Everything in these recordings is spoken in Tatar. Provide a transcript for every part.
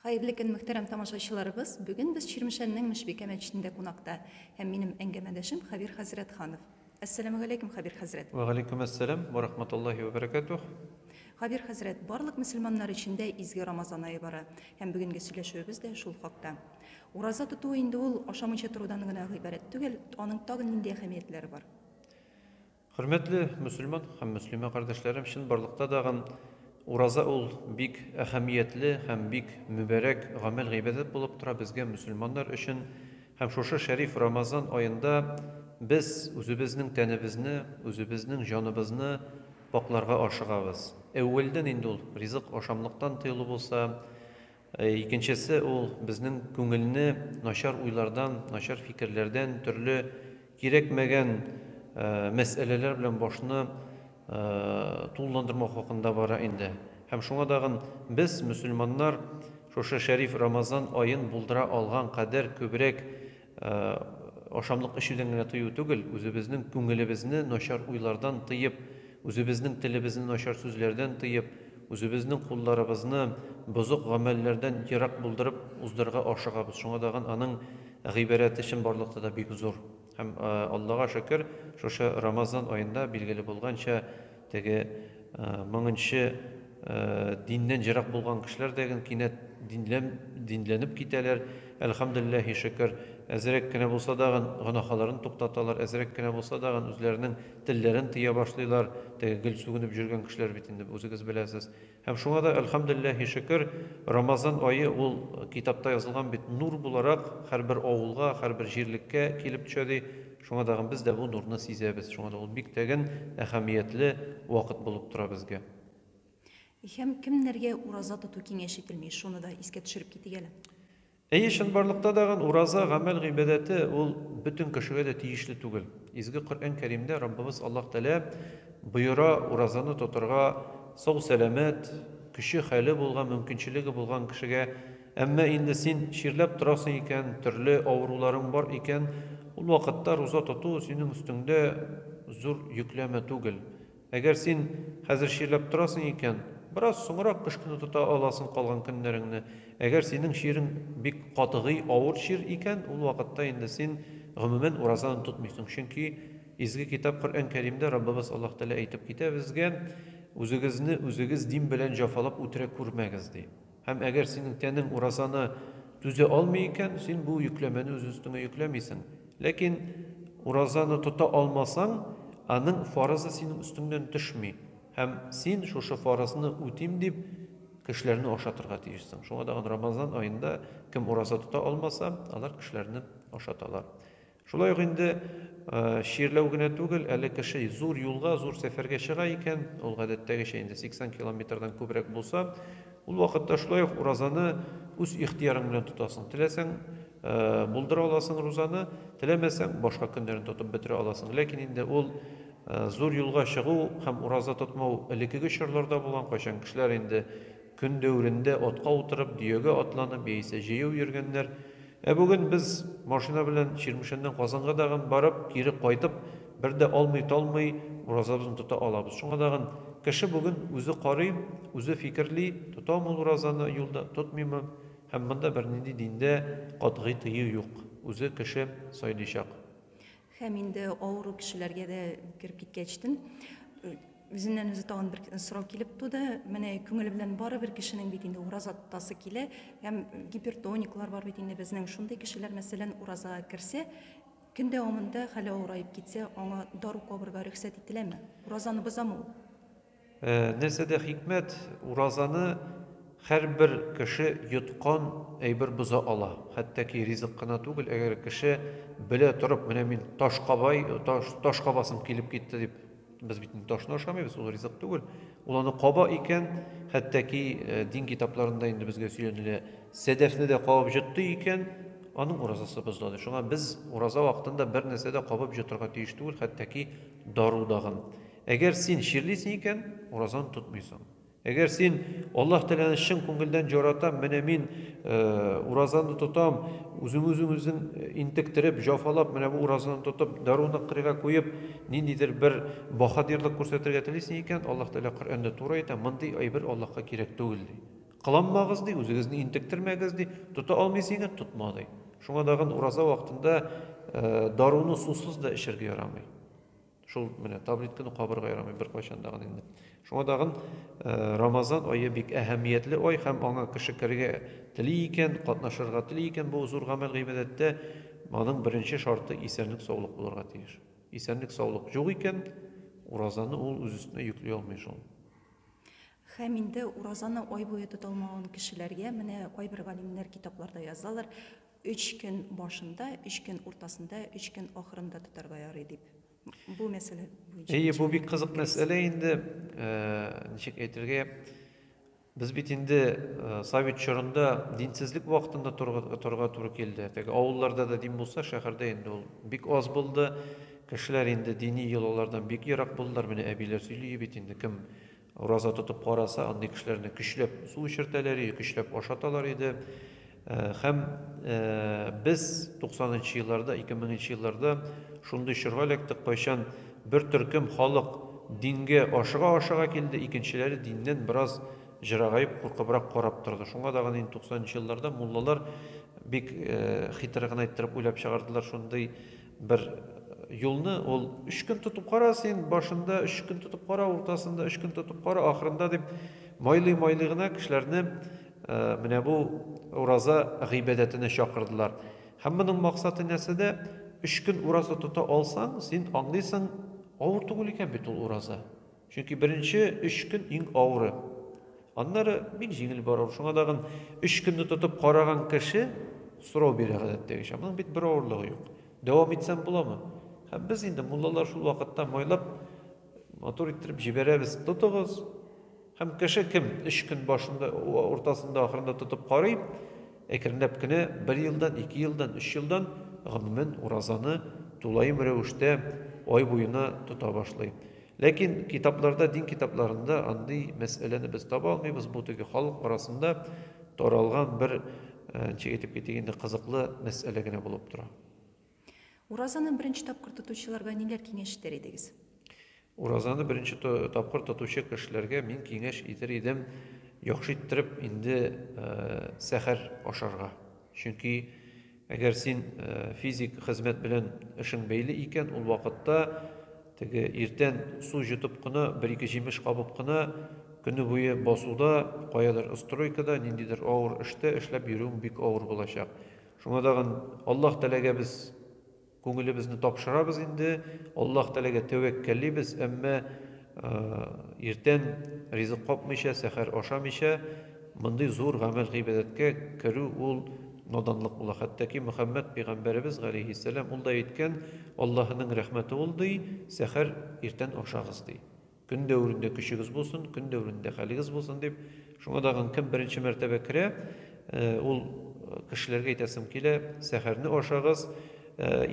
Хәерле көн, мөхтәрәм тамашачыларыбыз! Бүген без Чирмешәннең Мешбикә мәчетендә кунакта һәм минем әңгәмәдәшем Хәбир Хәзрәтханов. Әссәламүгаләйкүм, Хәбир хәзрәт! Вәгаләйкүм әссәлам вә рахматуллаһи вә бәрәкәтүһ! Хәбир хәзрәт, барлык мөселманнар өчен дә изге Рамазан ае бара һәм бүгенге сөйләшүебез дә шул хакта. Ураза тоту инде ул ашамыйча торудан гына гыйбарәт түгел, аның тагын нинди әһәмиятләре бар? Хөрмәтле мөселман һәм мөслимә кардәшләрем, чынбарлыкта дагын ураза ул бик әһәмиятле һәм бик мөбәрәк гамәл-гыйбадәт булып тора безгә мөселманнар өчен һәм шушы шәриф Рамазан аенда без үзебезнең тәнебезне, үзебезнең җаныбызны пакъларга ашыгабыз. Әүвәлдән инде ул ризык ашамлыктан тыелу булса, Икенчесе ул безнең күңелне начар уйлардан, начар фикерләрдән, төрле кирәкмәгән мәсьәләләр белән башны тулыландырмау хакында бара инде. Һәм шуңа тагын без, мөселманнар, шушы шәриф Рамазан аен булдыра алган кадәр күбрәк Ашамлык эчүдән генә тыю түгел, үзебезнең күңелебезне начар уйлардан тыеп, үзебезнең телебезне начар сүзләрдән тыеп, үзебезнең кулларыбызны бозык гамәлләрдән ерак булдырып уздырырга ашыгабыз. Шуңа тагын аның гыйбарәте чынбарлыкта да бик зур. Һәм, Аллага шөкер, шушы Рамазан аенда, билгеле булганча, Теге меңенче диннән ерак булган кешеләр дә гел кинәт динлән, динләнеп китәләр. Әлхәмдүлилләһи шөкер, әзрәк кенә булса дагын гөнаһаларын туктаталар, әзрәк кенә булса дагын үзләренең телләрен тыя башлыйлар. Теге гел сүгенеп җөргән кешеләр бит инде, үзегез беләсез. Һәм шуңа да, әлхәмдүлилләһи шөкер, Рамазан ае ул китапта язылган бит, нур буларак һәрбер авылга, һәрбер җирлеккә килеп төшә, ди. Шуңа тагын без дә бу нурны сизәбез. Шуңа да ул бик тәген, әһәмиятле вакыт булып тора безгә. Һәм кемнәргә ураза тоту киңәш ителми, шуны да искә төшереп китик әле. Әйе, чынбарлыкта дагын ураза, гамәл гыйбадәте, ул бөтен кешегә дә тиешле түгел. Изге Коръән Кәримдә Раббыбыз Аллаһ Тәгалә боера, уразаны тотырга сау-сәламәт, көче-хәле булган, мөмкинчелеге булган кешегә. Әмма инде син чирләп торасың икән, төрле авыруларың бар икән, ул вакытта руза тоту синең өстеңдә зур йөкләмә түгел. Әгәр син хәзер чирләп торасың икән, бераз соңрак кыш көне тота аласың калган көннәреңне. Әгәр синең чирең бик катгый авыр чир икән, ул вакытта инде син, гомумән, уразаны тотмыйсың. Чөнки Изге Китап Коръән Кәримдә Раббыбыз Аллаһ Тәгалә әйтеп китә безгә, Үзегезне үзегез дим белән җафалап үтерә күрмәгез, ди. Һәм әгәр синең тәнең уразаны түзә алмый икән, син бу йөкләмәне үз өстеңә йөкләмисең. Ләкин уразаны тота алмасаң, аның фарызы синең өстеңнән төшми. Һәм син шушы фарызны үтим дип, кешеләрне ашатырга тиешсең. Шуңа тагын Рамазан аенда кем ураза тота алмаса, алар кешеләрне ашаталар. Шулай ук инде чирләү генә түгел, әле кеше зур юлга, зур сәфәргә чыга икән, ул гадәттәгечә инде 80 километрдан күбрәк булса, ул вакытта шулай ук уразаны үз ихтыярың белән тотасың. Теләсәң, булдыра аласың рузаны, теләмәсәң, башка көннәрен тотып бетерә аласың. Ләкин инде ул зур юлга чыгу һәм ураза тотмау элеккеге чорларда булган, кайчан кешеләр инде Көн дәверендә атка утырып, дөягә атланып яисә җәяү йөргәннәр. Ә бүген без, машина белән Чирмешәннән Казанга дагын барып, кире кайтып, бер дә алмый-талмый уразабызны тота алабыз. Шуңа дагын, кеше бүген үзе карый, үзе фикерли, тотамы ул уразаны юлда, тотмыймы. Һәм монда бернинди диндә катгый тыю юк, үзе кеше сайлыйчак. Һәм инде авыру кешеләргә дә кереп киткәч тен үзеннән үзе тагын бер сорау килеп туды. Менә күңеле белән бары бер кешенең бит инде ураза тотасы килә. Һәм гипертониклар бар бит инде безнең. Шундый кешеләр, мәсәлән, уразага керсә, көн дәвамында хәле авыраеп китсә, аңа дару кабырга рөхсәт ителәме? Уразаны бозамы ул? Нәрсәдә хикмәт? Уразаны һәрбер кеше йоткан әйбер боза ала. Хәтта ки ризык кына түгел, әгәр кеше белә торып, менә мин таш кабай, таш, таш кабасым килеп китте дип, без бит инде ташны ашамыйбыз, ул ризык түгел. Ул аны каба икән, хәтта ки дин китапларында инде безгә сөйләнелә, сәдәфне дә кабып җотты икән, аның уразасы бозылады. Шуңа без ураза вакытында бер нәрсә дә кабып җотырга тиеш түгел, хәтта ки дару дагын. Әгәр син чирлисең икән, уразаны тотмыйсың. Әгәр син Аллаһ Тәгаләне чын күңелдән яратам, менә мин уразаны тотам, үзең үзең үзең интектереп, җафалап, менә бу уразаны тотып, даруны кырыйга куеп, ниндидер бер баһадирлык күрсәтергә телисең икән, Аллаһ Тәгалә Коръәндә туры әйтә, мондый әйбер Аллаһка кирәк түгел ди. Кыланмагыз ди, үзегезне интектермәгез ди, тота алмыйсың икән, тотма ди. Шуңа тагын ураза вакытында даруны сусыз да эчәргә ярамый. Шул менә таблетканы кабырга ярамый беркайчан дагын инде. Шуңа дагын Рамазан ае бик әһәмиятле ай һәм аңа кеше керергә тели икән, катнашырга тели икән бу зур гамәл гыйбадәттә, аның беренче шарты исәнлек-саулык булырга тиеш. Исәнлек-саулык юк икән, уразаны ул үз өстенә йөкли алмый шул. Һәм инде уразаны ай буе тота алмаган кешеләргә менә кайбер галимнәр китапларда язалар, Өч көн башында, өч көн уртасында, өч көн ахырында тотарга ярый дип. Бу мәсьәлә буенча. Әйе, бу бик кызык мәсьәлә инде. Э, ничек әйтергә? Без бит инде э, совет чорында динсезлек вакытында торга торга туры килде. Теге авылларда да дин булса, шәһәрдә инде ул бик аз булды. Кешеләр инде дини йолалардан бик ерак булдылар. Менә әбиләр сөйли бит инде кем Ураза тотып караса, андый кешеләрне көчләп су эчертәләр иде, көчләп ашаталар иде. Һәм без 90 нчы елларда, 2000 нчы елларда шундый чорга эләктек, кайчан бер төркем халык дингә ашыга-ашыга килде, икенчеләре диннән бераз җырагаеп, куркыбрак карап торды. Шуңа да гына инде 90 нчы елларда муллалар бик хитр гына иттереп уйлап чыгардылар шундый Бер юлны ул өч көн тотып кара син, башында өч көн тотып кара, уртасында өч көн тотып кара, ахырында дип майлый-майлый гына кешеләрне менә бу ураза гыйбадәтенә чакырдылар. Һәм моның максаты нәрсәдә? Өч көн ураза тота алсаң, син аңлыйсың, авыр түгел икән бит ул ураза. Чөнки беренче өч көн иң авыры. Аннары бик җиңел бара ул. Шуңа тагын өч көнне тотып караган кеше сорау бирә гадәттәгечә. Моның бит бер авырлыгы юк. Дәвам итсәм буламы? Һәм без инде, муллалар, шул вакытта майлап, матур иттереп җибәрәбез. Тотыгыз! Һәм кеше кем өч көн башында, уртасында, ахырында тотып карый, Әкренләп кенә бер елдан, ике елдан, өч елдан, гомумән, уразаны тулаем рәвештә ай буена тота башлый. Ләкин китапларда, дин китапларында андый мәсьәләне без таба алмыйбыз, бу теге халык арасында таралган бер, ничек әйтеп китик инде, кызыклы мәсьәлә генә булып тора. Уразаны беренче тапкыр тотучыларга ниләр киңәш итәр идегез? Уразаны беренче тапкыр тотучы кешеләргә мин киңәш итер идем, яхшы иттереп инде э, сәхәр ашарга. Чөнки әгәр син э, физик хезмәт белән эшең бәйле икән, ул вакытта теге иртән су җотып кына, бер-ике җимеш кабып кына көне буе басуда, каядыр стройкада, ниндидер авыр эштә эшләп йөрүең бик авыр булачак. Шуңа тагын Аллаһ Тәгаләгә без күңелебезне тапшырабыз инде, Аллаһ Тәгаләгә тәвәккәллибез, әмма иртән ризык капмыйча, сәхәр ашамыйча мондый зур гамәл-гыйбадәткә керү ул наданлык була. Хәтта ки Мөхәммәд пәйгамбәребез галәйһиссәлам ул да әйткән, Аллаһының рәхмәте ул ди, сәхәр иртән ашагыз ди. Көн дәверендә көчегез булсын, көн дәверендә хәлегез булсын дип, шуңа тагын кем беренче мәртәбә керә, ул кешеләргә әйтәсем килә, сәхәрне ашагыз,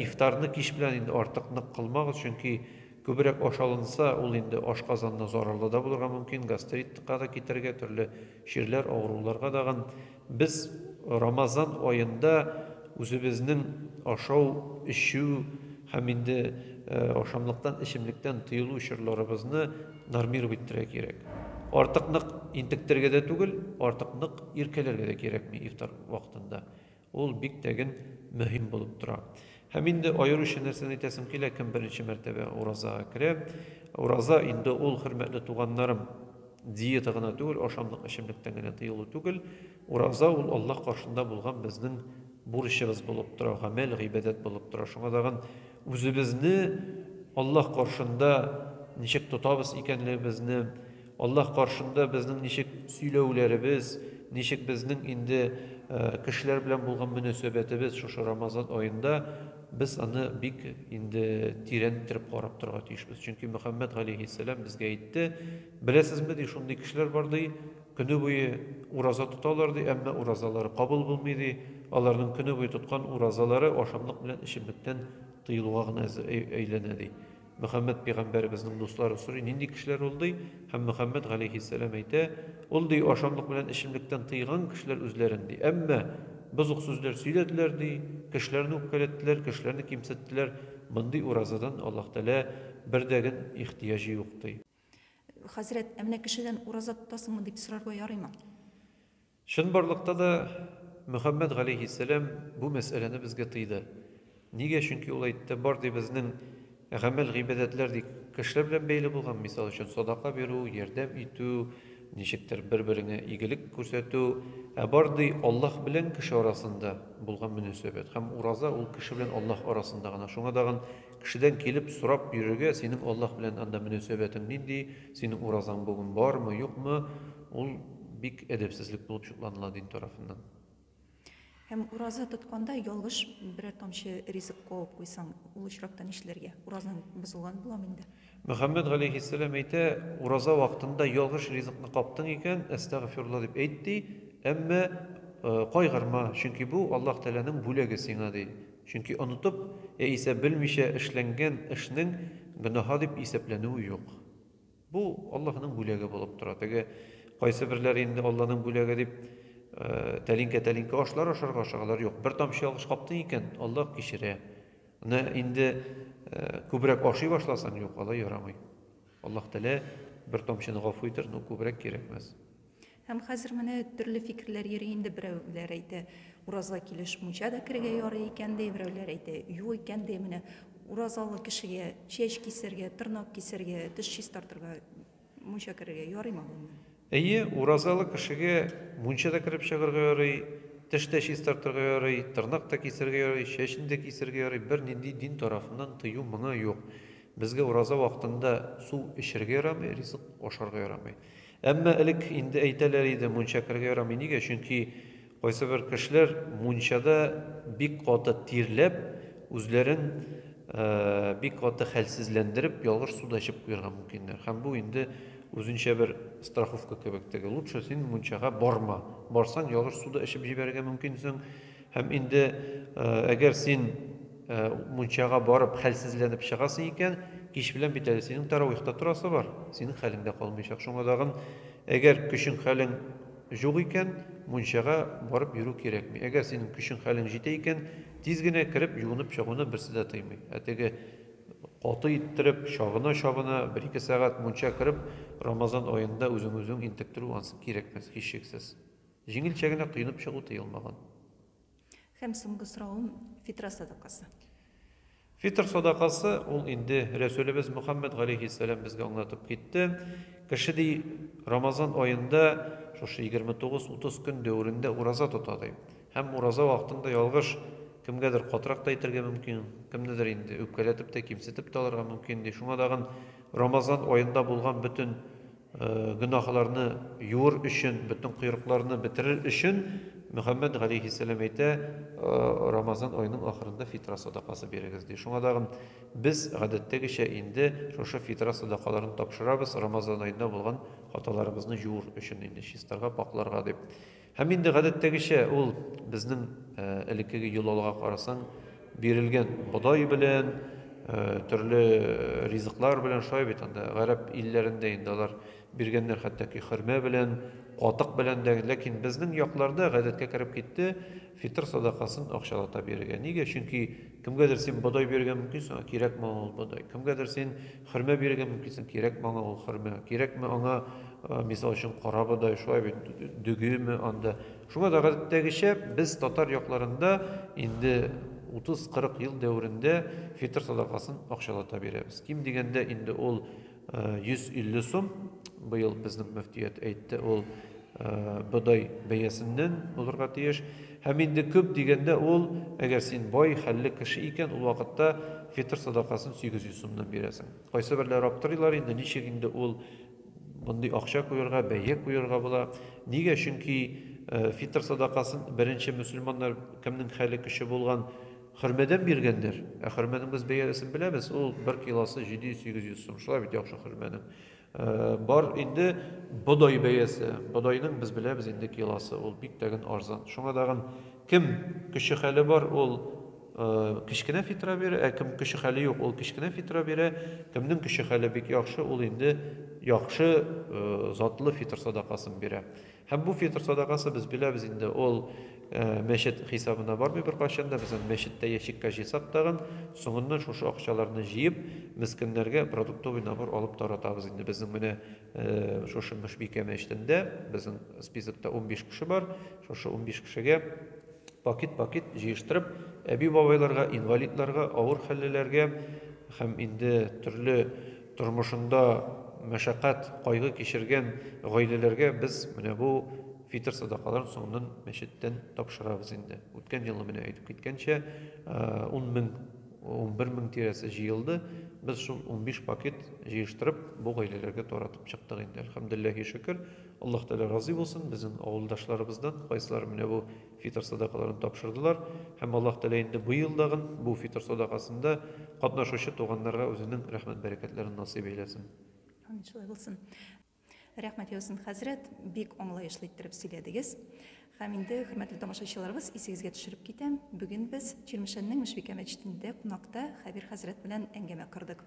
ифтарны кич белән инде артык нык кылмагыз, чөнки күбрәк ашалынса, ул инде ашказанына зарарлы да булырга мөмкин, гастритка да китерергә, төрле чирләр, авыруларга тагын Без Рамазан аенда үзебезнең ашау, эчү һәм инде ашамлыктан, эчемлектән тыелу чорларыбызны нормировать итәргә кирәк. Артык нык интектергә дә түгел, артык нык иркәләргә дә кирәкми ифтар вакытында. Ул бик тәген мөһим булып тора. Һәм инде аеруча нәрсәне әйтәсем килә, кем беренче мәртәбә уразага керә, ураза инде ул, хөрмәтле туганнарым, диета гына түгел, ашамлык, эчемлектән генә тыелу түгел, ураза ул Аллаһ каршында булган безнең бурычыбыз булып тора, гамәл, гыйбадәт булып тора. Шуңа тагын үзебезне Аллаһ каршында ничек тотабыз икәнлегебезне, Аллаһ каршында безнең ничек сөйләүләребез, ничек безнең инде кешеләр белән булган мөнәсәбәтебез шушы Рамазан аенда, без аны бик инде тирән иттереп карап торырга тиешбез. Чөнки Мөхәммәд галәйһиссәлам безгә әйтте, беләсезме ди, шундый кешеләр бар ди, көне буе ураза тоталар ди, әмма уразалары кабул булмый ди, аларның көне буе тоткан уразалары ашамлык белән эчемлектән тыелуга гына әйләнә ди. Мөхәммәд пигамбәребезнең дуслары сорый, нинди кешеләр ул, ди, һәм Мөхәммәд галәйһиссәлам әйтә, Ул, ди, ашамлык белән эчемлектән тыйган кешеләр үзләрен, ди, әмма бозык сүзләр сөйләделәр, ди, кешеләрне үпкәләттеләр, кешеләрне кимсеттеләр, мондый уразадан Аллаһ Тәгалә бер дә генә ихтыяҗ юк, ди. Хәзрәт, ә менә кешедән ураза тотасыңмы? дип сорарга ярыймы? Чынбарлыкта да Мөхәммәд галәйһиссәлам бу мәсьәләне безгә тыйды. Нигә? Чөнки ул әйтте, Бар, ди, безнең гамәл-гыйбадәтләр, ди, кешеләр белән бәйле булган, мисал өчен, садака бирү, ярдәм итү, ничектер бер-береңә игелек күрсәтү. Ә бар, ди, Аллаһ белән кеше арасында булган мөнәсәбәт. Һәм ураза ул кеше белән Аллаһ арасында гына. Шуңа тагын кешедән килеп сорап йөрергә, Синең Аллаһ белән анда мөнәсәбәтең нинди, синең уразаң бүген бармы, юкмы? Ул бик әдәпсезлек булып чукланыла дин тарафыннан. Һәм ураза тотканда ялгыш берәр тамчы ризык куып куйсаң, ул очракта нишләргә? Уразаң бозылган буламы инде? Мөхәммәд галәйһиссәлам әйтә, ураза вакытында ялгыш ризыкны каптың икән, әстәгъфирулла дип әйт, ди, әмма кайгырма, чөнки бу Аллаһ Тәгаләнең бүләге сиңа, ди. Чөнки онытып яисә белмичә эшләнгән эшнең гөнаһа дип исәпләнүе юк. Бу Аллаһының бүләге булып тора. Теге кайсыберләре инде Алланың бүләге дип, тәлинкә-тәлинкә ашлар ашарга ашагалар. Юк, бер тамчы ялгыш каптың икән, Аллаһ кичерә. Менә инде күбрәк ашый башласаң, юк, алай ярамый. Аллаһ Тәгалә бер тамчыны гафу итәр, но күбрәк кирәкмәс. Һәм хәзер менә төрле фикерләр йөри инде, берәүләр әйтә, ураза килеш мунча да керергә ярый икән ди, берәүләр әйтә, юк икән ди, менә уразалы кешегә чәч кисәргә, тырнак кисәргә, теш чистартырга мунча керергә ярыймы гомумән? Әйе, уразалы кешегә мунча да кереп чыгарга ярый, теш тә чистартырга ярый, тырнак та кисәргә ярый, чәчне дә кисәргә ярый, бернинди дин тарафыннан тыю моңа юк. Безгә ураза вакытында су эчәргә ярамый, ризык ашарга ярамый. Әмма элек инде әйтәләр иде, мунча керергә ярамый. Нигә? Чөнки кайсыбер кешеләр мунчада бик каты тирләп, үзләрен бик каты хәлсезләндереп, ялгыш суда эчеп куярга мөмкиннәр. Һәм бу инде үзенчә бер страховка кебек теге. Лучше син мунчага барма. Барсаң, ялгыш суда эчеп җибәрергә мөмкинсең. Һәм инде әгәр син мунчага барып хәлсезләнеп чыгасың икән, кич белән бит әле синең таравыйхта торасы бар, синең хәлең дә калмыйчак. Шуңа тагын, әгәр көчең хәлең җук икән, мунчага барып йөрү кирәкми. Әгәр синең көчең хәлең җитә икән, тиз генә кереп юынып чыгуны берсе дә тыймый. Ә теге каты иттереп, чабына-чабына, бер-ике сәгать мунча кереп, Рамазан аенда үзең-үзең интектерү ансы кирәкмәс, һичшиксез. Җиңелчә генә коенып чыгу тыелмаган. Һәм соңгы соравым, фитра садакасы. Фитр садакасы, ул инде Рәсүлебез Мөхәммәд галәйһиссәлам безгә аңлатып китте. Кеше ди, Рамазан аенда шушы 29-30 көн дәверендә ураза тота ди. Һәм ураза вакытында ялгыш, кемгәдер катырак та әйтергә мөмкин, кемнедер инде үпкәләтеп тә, кимсетеп тә алырга мөмкин ди. Шуңа тагын Рамазан аенда булган бөтен Гөнаһларны юыр өчен, бөтен койрыкларны бетерер өчен, Мөхәммәд галәйһиссәлам әйтә, Рамазан аеның ахырында фитра садакасы бирегез, ди. Шуңа тагын без, гадәттәгечә, инде шушы фитра садакаларын тапшырабыз, Рамазан аенда булган хаталарыбызны җуыр өчен, инде чистарга, пакъларга дип. Һәм инде гадәттәгечә ул безнең элеккеге юл алга карасаң, бирелгән бодай белән, төрле ризыклар белән шулай бит анда гарәп илләрендә инде алар биргәннәр хәтта хөрмә белән, катык белән дә, ләкин безнең якларда гадәткә кереп китте фитр садакасын акчалата бирергә. Нигә? Чөнки кемгәдер син бодай бирергә мөмкинсең, кирәкме ул бодай? Кемгәдер син Хөрмә бирергә мөмкинсең, кирәкме аңа ул хөрмә, кирәкме аңа, мисал өчен, карабодай, шулай бит, дөгеме анда. Шуңа да гадәттәгечә без татар якларында инде 30-40 ел дәверендә фитр садакасын акчалата бирәбез. Ким дигәндә инде ул 150 сум, быел безнең мөфтият әйтте, ул бодай бәясеннән булырга тиеш. Һәм инде күп дигәндә ул, әгәр син бай, хәлле кеше икән, ул вакытта фитыр садакасын 800 сумнан бирәсең. Кайсыберләр аптырыйлар инде, ничек инде ул мондый акча куярга, бәя куярга була? Нигә? Чөнки фитыр садакасын беренче мөселманнар кемнең хәле көче булган хөрмәдән биргәннәр. Ә хөрмәнең без бәясен беләбез, ул бер килосы 700-800 сум. Шулай бит яхшы хөрмәнең. Бар инде бодай бәясе. Бодайның без беләбез инде килосы, ул бик тәген арзан. Шуңа тагын кем көче хәле бар, ул кечкенә фитра бирә, ә кем көче хәле юк, ул кечкенә фитра бирә. Кемнең көче хәле бик яхшы, ул инде яхшы затлы фитр садакасын бирә. Һәм бу фитр садакасы, без беләбез инде, ул мәчет хисабына бармый беркайчан да, без аны мәчеттә ящикка җыйсак тагын, соңыннан шушы акчаларны җыеп, мескеннәргә продуктовый набор алып таратабыз инде. Безнең менә шушы Мөшбикә мәчетендә, безнең списокта унбиш кеше бар, шушы унбиш кешегә пакет-пакет җыештырып, әби-бабайларга, инвалидларга, авыр хәллеләргә һәм инде төрле Тормышында мәшәкать, кайгы кичергән гаиләләргә без менә бу фитыр садакаларын соңыннан мәчеттән тапшырабыз инде. Үткән елны менә әйтеп киткәнчә, ун мең, унбер мең тирәсе җыелды. Без шул унбиш пакет җыештырып, бу гаиләләргә таратып чыктык инде. Әлхәмдүлилләһи шөкер, Аллаһ Тәгалә разый булсын, безнең авылдашларыбыздан кайсылары менә бу фитыр садакаларын тапшырдылар һәм Аллаһ Тәгалә инде быел дагын бу фитыр садакасында катнашучы туганнарга үзенең рәхмәт-бәрәкәтләрен насыйп әйләсен. Амин, шулай булсын. Рәхмәт яусын, хәзрәт, бик аңлаешлы иттереп сөйләдегез. Һәм инде, хөрмәтле тамашачыларыбыз, исегезгә төшереп китәм, бүген без Чирмешәннең Мөшбикә мәчетендә кунакта Хәбир хәзрәт белән әңгәмә кордык.